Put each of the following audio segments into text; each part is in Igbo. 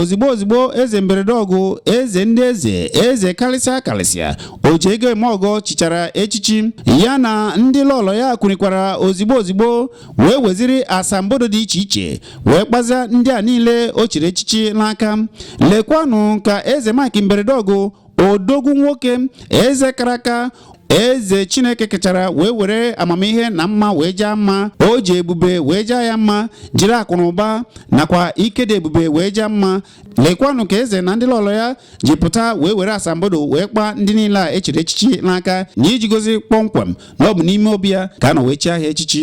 ozigbo ozigbo eze mberede ọgụ eze ndị eze eze kalịsịa kalịsịa oji ego eme ọgọ chichara echichi ya na ndị lọlọ ya kwunikwara ozigbo ozigbo wee weziri asambodo dị iche iche wee kpaza ndị a niile o chiri echichi n'aka lekwanụ ka eze mike mberede ọgụ odogwu nwoke eze karaka eze chineke kechara wee were amamihe na mma wee jaa mma o ji ebube wee jaa ya mma jiri akụnụba nakwa ike dị ebube wee jaa mma lekwanụ ka eze na ndị lọlọ ya ji pụta wee were asambodo wee kpaa ndị niile a e chiri echichi n'aka n'iji gosi kpọmkwem na ọ bụ n'ime obi ya ka a nọ wee chie ha echichi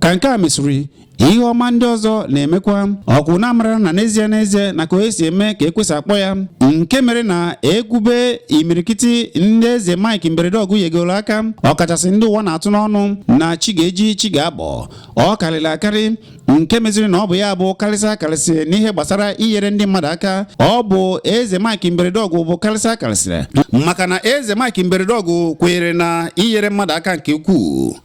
ka nke a mesịrị ihe ọma ndị ọzọ na-emekwa ọkwụ na amara na n'ezie n'ezie na ka onye si eme ka ekwesị akpọ ya nke mere na e kwube imirikiti ndị eze Mike mberede ọgụ yegoro aka ọkachasị ndị ụwa na-atụ n'ọnụ na chi ga-eji chi ga-abọ ọ karịrị akarị nke meziri na ọ bụ ya bụ kalịsịa akalịsị n'ihe gbasara inyere ndị mmadụ aka ọ bụ eze Mike Mberedọgụ bụ kalịsịa akalịsị maka na eze Mike Mberedọgụ kwenyere na inyere mmadụ aka nke ukwuu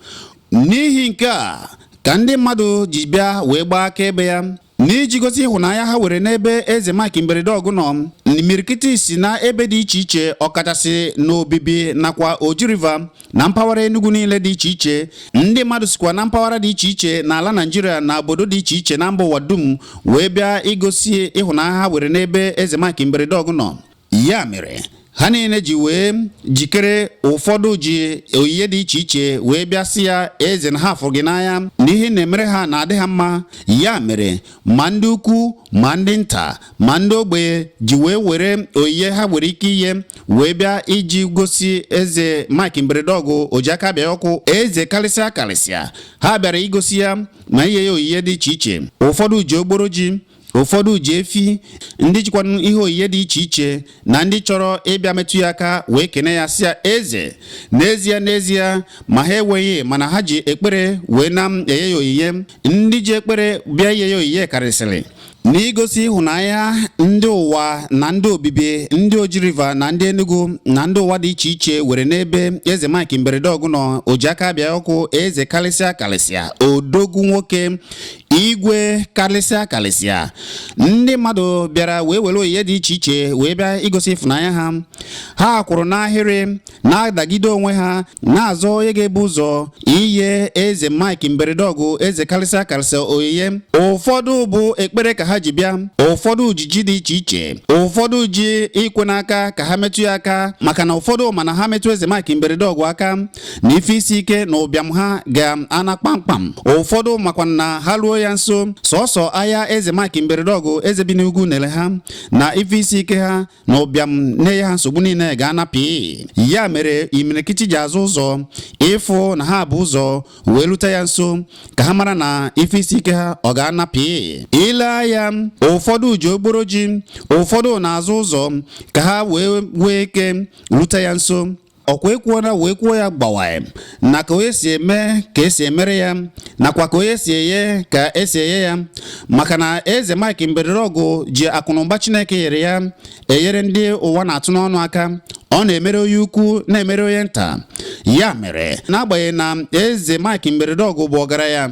n'ihi nke a ka ndị mmadụ ji bịa wee gbaa akaebe ya n'iji gosi ịhụnanya ha were n'ebe eze Mike Mberedọgụ nọ imirikiti si na ebe dị iche iche ọkachasị n'Obibi nakwa Oji River na mpaghara Enugu niile dị iche iche ndị mmadụ sikwa na mpaghara dị iche iche n'ala Naijiria na obodo dị iche iche na mba ụwa dum wee bịa igosi ịhụnanya ha were n'ebe Eze Mike Mberedeọgụ nọ ya mere ha niile ji wee jikere ụfọdụ ji oyiye dị iche iche wee bịa sị ya eze na ha fụrụ gị n'anya na ihe na-emere ha na-adị ha mma ya mere ma ndị ukwu ma ndị nta ma ndị ogbenye ji wee were oyiye ha nwere ike ihe wee bịa iji gosi eze Mike mberede ọgụ ojiaka abịa ọkụ eze kalịsịa kalịsịa ha bịara igosi ya ma iye ya oyiye dị iche iche ụfọdụ ji ogboro ji ụfọdụ ji efi ndị jikwanụ ihe oyiye dị iche iche na ndị chọrọ ịbịa metụ ya aka wee kene ya sị ya eze n'ezie n'ezie ma ha enweghị mana ha ji ekpere wee na-enye ya oyiye ndị ji ekpere bịa iye ya oyiye karịsịrị n'igosi ịhụnanya ndị ụwa na ndị obibi ndị oji river na ndị enugu na ndị ụwa dị iche iche were n'ebe eze mike mberede ọgụ nọ o ji aka bịa ọkụ eze kalịsịa kalịsịa odogwu nwoke igwe kalịsịa kalịsịa ndị mmadụ bịara wee were oyiye dị iche iche wee bịa igosi ịfụnanya ha ha kwụrụ n'ahịrị na-adagide onwe ha na-azọ onye ga-ebu ụzọ iye eze Mike mberede ọgụ eze kalịsịa kalịsịa oyiye ụfọdụ bụ ekpere ka ha ji bịa ụfọdụ ji ji dị iche iche ụfọdụ ji ikwe n'aka ka ha metụ ya aka maka na ụfọdụ ma na ha metụ eze Mike mberede ọgụ aka na ife isi ike na ụbịam ha ga-ana kpamkpam ụfọdụ makwa na ha ruo ya nso sọsọ anya eze Mike mberede ọgụ eze bi n'ugwu nere ha na ife isi ike ha na ụbịam na-eye ha nsogbu niile ga-ana pii ya mere imirikiti ji azọ ụzọ ịfụ na ha bu ụzọ wee rute ya nso ka ha mara na ife isi ike ha ọ ga-ana pii i lee anya ụfọdụ ji ogboro ji ụfọdụ na-azọ ụzọ ka ha wee wee ike rute ya nso ọkwa ekwuo na wee kwuo ya gbawa na ka onye si eme ka esi emere ya nakwa ka onye si eye ka esi eye ya maka na eze Mike Mberedọgụ ji akụnụba Chineke nyere ya enyere ndị ụwa na-atụ n'ọnụ aka ọ na-emere onye ukwu na-emere onye nta ya mere n'agbanyeghị na eze Mike Mberedọgụ bụ ọgaranya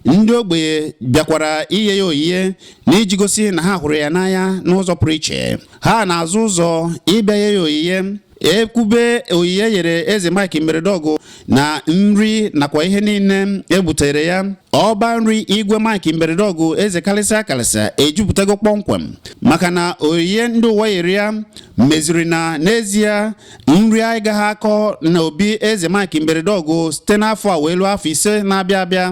ndị ogbenye bịakwara iye ya oyiye n'iji gosi na ha hụrụ ya n'anya n'ụzọ pụrụ iche ha na-azọ ụzọ ịbịa iye ya oyiye ekwube oyiye e yere eze Mike Mberedọgụ na nri nakwa ihe niile e butere ya ọba nri igwe mike mberede ọgụ eze kalịsịa kalịsịa ejuputago kpọmkwem maka na oyiye ndị ụwa yere ya meziri na n'ezie nri agaghị akọ na obi eze mike mberede ọgụ site n'afọ a wee luo afọ ise na-abịa abịa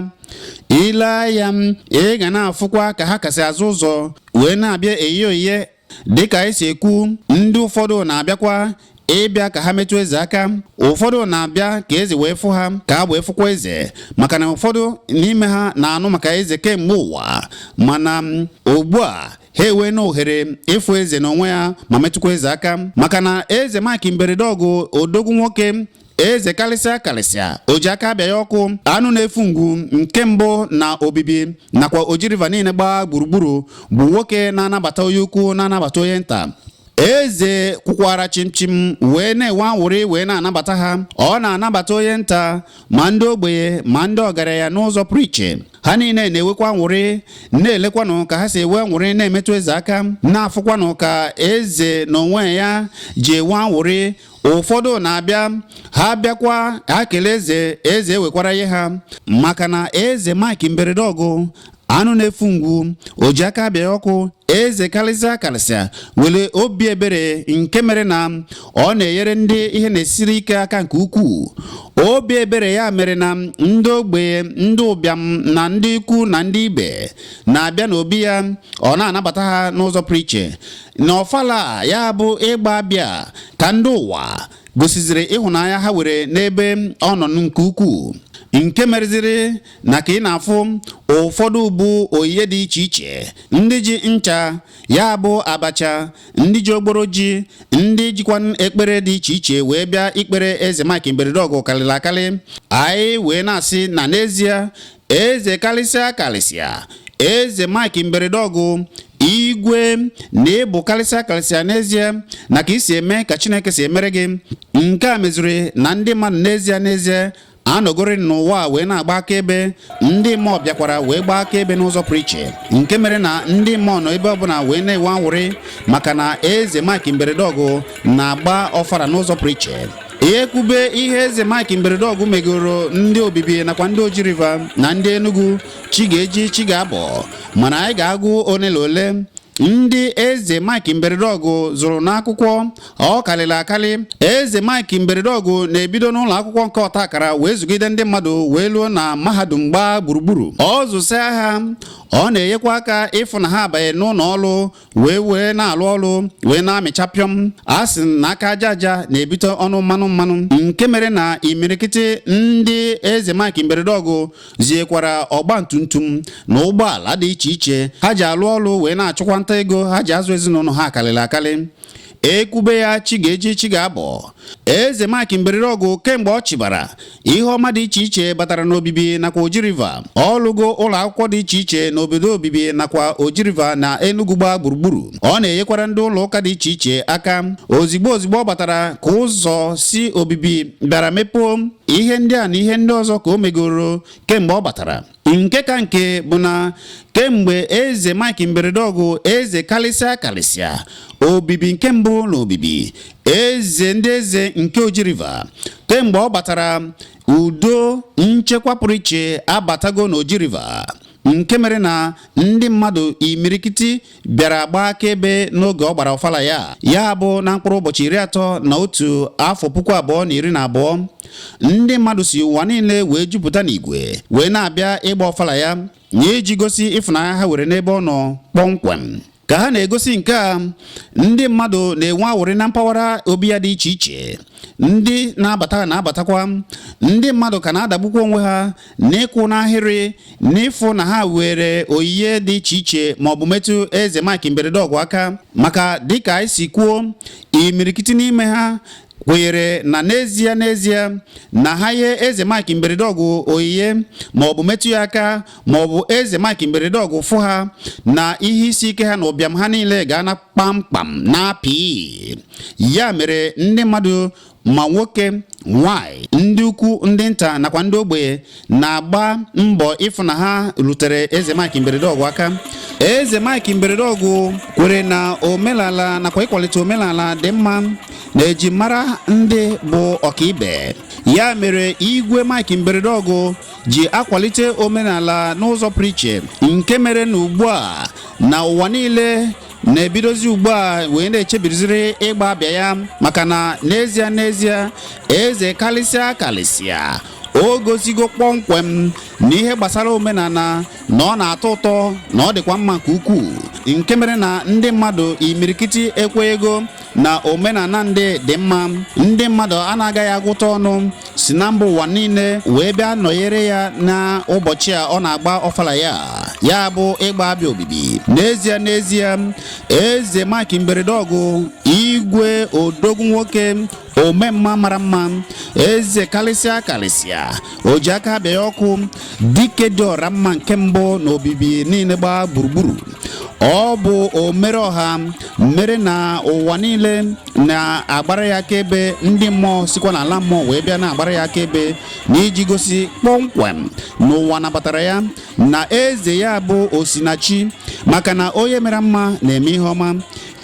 i lee anya ị ga na-afụkwa ka ha ka si azọ ụzọ wee na-abịa iye oyiye dịka anyị si ekwu ndị ụfọdụ na-abịakwa ịbịa ka ha metụ eze aka ụfọdụ na-abịa ka eze wee fụ ha ka ha wee fụkwa eze maka na ụfọdụ n'ime ha na-anụ maka eze kemgbe ụwa mana ugbu a ha eweena ohere ịfụ eze n'onwe ya ma metụkwa eze aka maka na eze Mike Mberedeọgụ odogwu nwoke eze kalịsịa kalịsịa o ji aka abịa ya ọkụ anụ na-efu ngwu nke mbụ na obibi nakwa oji river niile gbaa gburugburu bụ nwoke na-anabata onye ukwu na-anabata onye nta eze kwụkwara chịmchịm wee na-enwe anwụrị wee na-anabata ha ọ na-anabata onye nta ma ndị ogbenye ma ndị ọgaranya n'ụzọ pụrụ iche ha niile na-enwekwa anwụrị na-elekwanụ ka ha si enwe anwụrị na-emetụ eze aka na-afụkwanụ ka eze n'onwe ya ji enwe anwụrị ụfọdụ na-abịa ha bịakwa ha kelee eze eze ewekwara ihe ha maka na eze Mike Mberedeọgụ anụ na-efu ngwu o ji aka abịa ọkụ eze kalịsịa kalịsịa nwere obi ebere nke mere na ọ na-enyere ndị ihe na-esiri ike aka nke ukwuu obi ebere ya mere na ndị ogbenye ndị ụbịam na ndị ikwu na ndị ibe na-abịa n'obi ya ọ na-anabata ha n'ụzọ pụrụ iche n'ọfala a ya bụ ịgba abịa ka ndị ụwa gosiziri ịhụnanya ha nwere n'ebe ọ nọ nke ukwuu nke mereziri na ka ị na-afụ ụfọdụ bu onyinye dị iche iche ndị ji ncha ya bụ abacha ndị ji ogboro ji ndị jikwa ekpere dị iche iche wee bịa ikpere eze Mike Mberedeọgụ karịrị akarị anyị wee na-asị na n'ezie eze kalịsịa kalịsịa eze Mike Mberedeọgụ igwe na ị bụ kalịsịa kalịsịa n'ezie na ka i si eme ka Chineke si emere gị nke a meziri na ndị mmadụ n'ezie n'ezie anọgori n'ụwa wee na-agba akaebe ndị mmụọ bịakwara wee gbaa akaebe n'ụzọ pụrụ iche nke mere na ndị mmụọ nọ ebe ọbụla wee na-enwe anwụrị maka na eze Mike Mberedeọgụ na-agba ọfara n'ụzọ pụrụ iche e kwube ihe eze Mike Mberedeọgụ megoro ndị Obibi nakwa ndị Oji River na ndị Enugu chi ga-eji chi ga-abọ mana anyị ga-agụ ole na ole ndị eze Mike Mberedeọgụ zụrụ n'akwụkwọ ọ karịrị akarị eze Mike Mberedeọgụ na-ebido n'ụlọ akwụkwọ nke ọta akara wee zụgide ndị mmadụ wee luo na mahadum gbaa gburugburu ọ zụsịa ha ọ na-enyekwa aka ịfụ na ha abanye n'ụlọ ọrụ wee wee na-alụ ọrụ wee na-amịcha pịọm a sị na aka aja aja na-ebute ọnụ mmanụ mmanụ nke mere na imirikiti ndị eze Mike Mberedeọgụ ziekwara ọgba tumtum na ụgbọala dị iche iche ha ji alụ ọrụ wee na-achụkwa nta ego ha ji azụ ezinụlọ ha akarịla akarị e kwube ya chi ga-eji chi ga-abọ eze Mike Mberedeọgụ kemgbe ọ chịbara ihe ọma dị iche iche batara n'Obibi nakwa Oji River ọ lụgo ụlọ akwụkwọ dị iche iche n'obodo Obibi nakwa Oji River na Enugu gbaa gburugburu ọ na-enyekwara ndị ụlọ ụka dị iche iche aka ozigbo ozigbo ọ batara ka ụzọ si Obibi bịara mepụọ ihe ndị a na ihe ndị ọzọ ka o megoro kemgbe ọ batara nke ka nke bụ na kemgbe eze Mike Mberedeọgụ eze kalịsịa kalịsịa Obibi nke mbụ na Obibi eze ndị eze nke Oji River kemgbe ọ batara udo nchekwa pụrụ iche abatago na Oji River nke mere na ndị mmadụ imirikiti bịara gbaa akaebe n'oge ọ gbara ọfala ya ya bụ na mkpụrụ ụbọchị iri atọ na otu afọ puku abụọ na iri na abụọ ndị mmadụ si ụwa niile wee jupụta n'igwe wee na-abịa ịgba ọfala ya na iji gosi ịfụnanya ha were n'ebe ọ nọ kpọmkwem ka ha na-egosi nke a ndị mmadụ na-enwe awụrị na mpaghara obi ya dị iche iche ndị na-abata na-abatakwa ndị mmadụ ka na-adagbukwa onwe ha n'ịkwụ n'ahịrị n'ịfụ na ha were oyiye dị iche iche ma ọ bụ metụ eze Mike mberede ọgụ aka maka dịka anyị si kwuo imirikiti n'ime ha kwenyere na n'ezie n'ezie na ha ye eze Mike mberede ọgụ oyiye ma ọ bụ metụ ya aka ma ọ bụ eze Mike mberede ọgụ fụ ha na ihe isi ike ha na ụbịam ha niile ga-ana kpamkpam na apị ya mere ndị mmadụ ma nwoke nwanyị ndị ukwu ndị nta nakwa ndị ogbenye na-agba mbọ ịfụ na ha rutere eze Mike mberede ọgụ aka eze Mike mberede ọgụ kwere na omenala nakwa ịkwalite omenala dị mma na eji mara ndị bụ ọkaibe ya mere igwe Mike mberede ọgụ ji akwalite omenala n'ụzọ pụrụ iche nke mere na ugbu a na ụwa niile na-ebidozi ugbu a wee na-echebiriziri ịgba abịa ya maka na n'ezie n'ezie eze kalịsịa kalịsịa o gosigo kpọmkwem na ihe gbasara omenala na ọ na-atọ ụtọ na ọ dịkwa mma nke ukwuu nke mere na ndị mmadụ imirikiti ekweego na omenala ndị dị mma ndị mmadụ a na-agaghị agụta ọnụ si na mba ụwa niile wee bịa nọnyere ya n'ụbọchị a ọ na-agba ọfala ya ya bụ ịgba abịa obibi n'ezie n'ezie eze Mike mberede ọgụ igwe odogwu nwoke omemma mara mma eze kalịsịa kalịsịa o ji aka abịa ọkụ dike dị ọra mma nke mbụ na obibi niile gbaa gburugburu ọ bụ omere ọha mere na ụwa niile na-agbara ya akaebe ndị mmụọ sikwa n'ala mmụọ wee bịa na-agbara ya akaebe na iji gosi kpọmkwem na ụwa nabatara ya na eze ya bụ osinachi maka na onye mere mma na-eme ihe ọma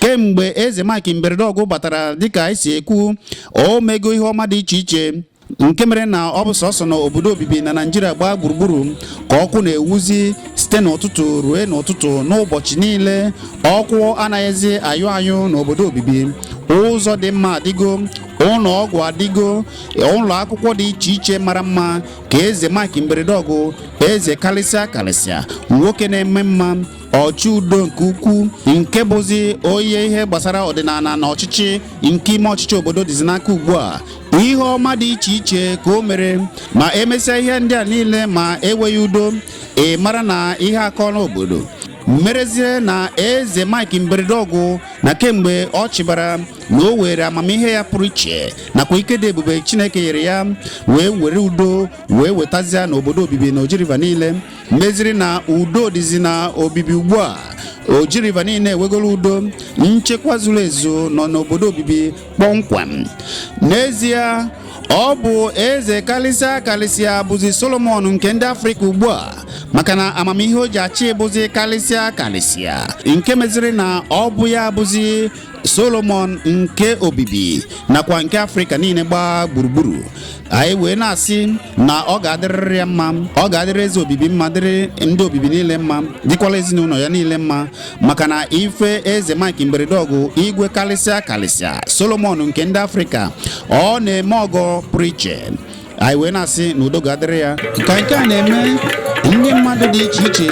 kemgbe eze Mike Mberedeọgụ batara dịka esi ekwu o mego ihe ọma dị iche iche nke mere na ọ bụ sọsọ na obodo obibi na naịjirịa gbaa gburugburu ka ọkụ na-ewuzi site n'ụtụtụ ruo n'ụtụtụ n'ụbọchị niile ọkụ anaghịzi ayụ ayụ n'obodo obibi ụzọ dị mma adịgo ụlọ ọgwụ adịgo ụlọ akwụkwọ dị iche iche mara mma ka eze mike mberede ọgụ eze kalịsịa kalịsịa nwoke na-eme mma ọchị udo nke ukwu nke bụzi onye ihe gbasara ọdịnala na ọchịchị nke ime ọchịchị obodo dịzi n'aka ugbu a ihe ọma dị iche iche ka o mere ma emesịa ihe ndị a niile ma enweghị udo ị mara na ihe akọla obodo merezie na eze mike mberedọgụ na kemgbe ọ chịbara na o were amamihe ya pụrụ iche nakwa ike dị ebube chineke nyere ya wee were udo wee wetazia n'obodo obibi na oji river niile meziri na udo dịzi na obibi ugbu a oji river niile ewegoro udo nchekwa zuru ezu nọ n'obodo obibi kpọmkwem n'ezie ọ bụ eze kalịsịa kalịsịa bụzi solomon nke ndị afrịka ugbu a maka na amamihe o ji achị bụzi kalịsịa kalịsịa nke meziri na ọ bụ ya bụzi solomon nke obibi nakwa nke afrịka niile gbaa gburugburu anyị wee na-asị na ọ ga-adịrịrị ya mma ọ ga-adịrị eze obibi mma dịrị ndị obibi niile mma dịkwala ezinụlọ ya niile mma maka na ife eze mike mberedọgụ igwe kalịsịa kalịsịa solomon nke ndị afrịka ọ na-eme ọgọ pụrụ iche anyị wee na-asị na udo ga-adịrị ya ka nke a na-eme ndị mmadụ dị iche iche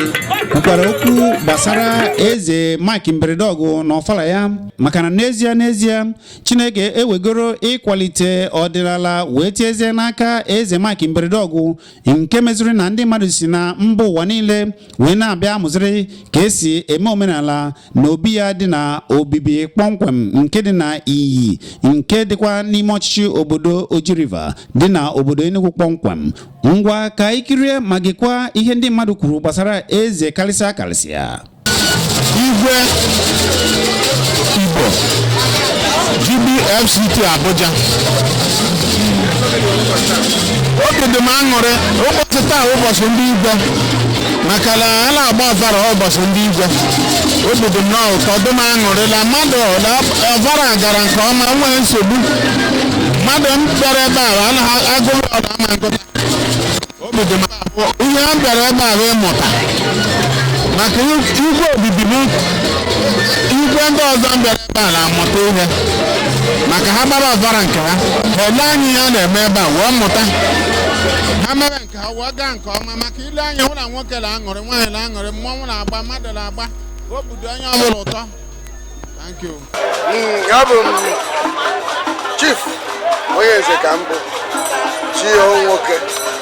kwukwara okwu gbasara eze Mike Mberedọgụ na ọfala ya maka na n'ezie n'ezie Chineke ewegoro ịkwalite ọdịnala wee tiezie n'aka eze Mike Mberedọgụ nke meziri na ndị mmadụ si na mba ụwa niile wee na-abịa amụziri ka esi eme omenala na obi ya dị na obibi kpọmkwem nke dị na Inyi nke dịkwa n'ime ọchịchị obodo Oji River dị na obodo Enugu kpọmkwem ngwa ka anyị kirie ma gekwa ihe ndị mmadụ kwuru gbasara eze kalịsịa kalịsịa igwe igbo GBFCT Abuja obi dị m aṅụrị ụbọchị taa ụbọchị ndị igwe maka na a na-agba ọfala ụbọchị ndị igwe obi dị m na ụtọ dị m aṅụrị na mmadụ na ọfala gara nke ọma nwee nsogbu mmadụ m bịara ebe a anaghị agụrụ ọnụ ama ngụta obi dị m abụ ihe m bịara ebe a bụ ịmụta maka igwe obibi m igwe ndị ọzọ m bịara a na-amụta ihe maka ha gbara ọfala nke ha ha ele anya ihe a na-eme ebe a wee mụta ha mere nke ha wee gaa nke ọma maka ile anya hụ na nwoke na-aṅụrị nwaanyị na-aṅụrị mmọnwụ na-agba mmadụ na-agba obi dị onye ọbụla ụtọ Thank you. abụ m chief onye nze ka m bụ chinwoke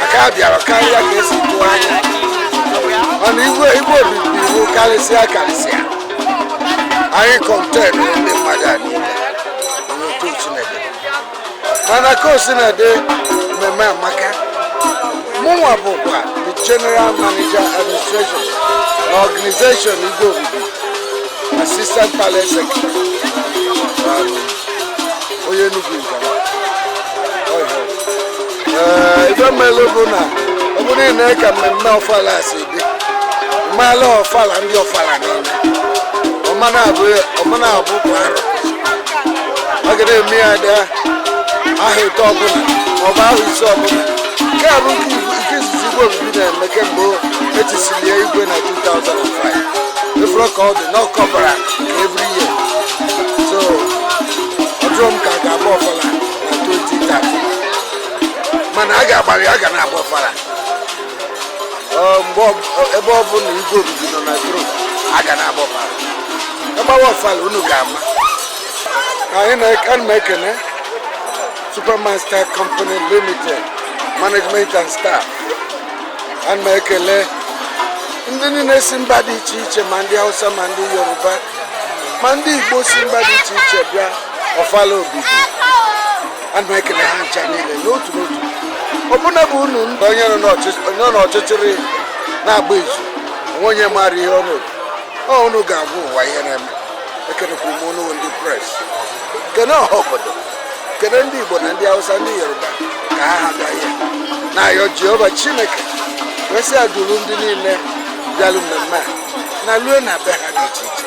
maka a bịara karịa ka e si tụọ anya mana igwe igwe obibi iwu karịsịa karịsịa anyị contain ndị mmadụ a niile n'otu Chineke mana ka o sina dị mmemme amaka mụnwa bụkwa the general manager administration na organization igwe obibi assistant palace secretary onye Enugu Igala ife melụ bụ na ọ bụrụ na i nee ka mmemme ọfala si dị m malụ ọfala ndị ọfala niile ọ ma na-abụ ọ ma na-abụ kwa arọ a ga na-eme ya dị ahọ ịtọ ọbụla maọbụ ahọ ise ọbụla nke a bụ nke ibu- nke izizi igwe obibi na-eme kemgbe e tisiri ya igwe na 2005 efere ka ọ dị na ọkọbara na every year so ọ dịrọ m ka a ga-agba ọfala mana a ga-agbalị a ga na-agba ọfara ebe ọ bụ na igwe obibi nọ na throne a ga na-agba ọfara agbawa ọfara unu ga-ama ana m ekene supermaster company limited management and staff ana m ekele ndị niile si mba dị iche iche ma ndị hausa ma ndị yoruba ma ndị igbo si mba dị iche iche bịa ọfala obibi ana m ekele ha ncha niile n'otu n'otu ọbụna bụ unu ndị onye nọ n'ọchịchịrị na-agba izu o nwee onye maara ihe ọ na-ekwu ọ unu ga-agwa ụwa ihe na-eme ekelekwa m unu ndị press kene ọha obodo kene ndị igbo na ndị hausa ndị yoruba ka ha ha bịa ihe na-ayọ jehova chineke mesịa duru ndị niile bịalụ mmemme a nalue na be ha dị iche iche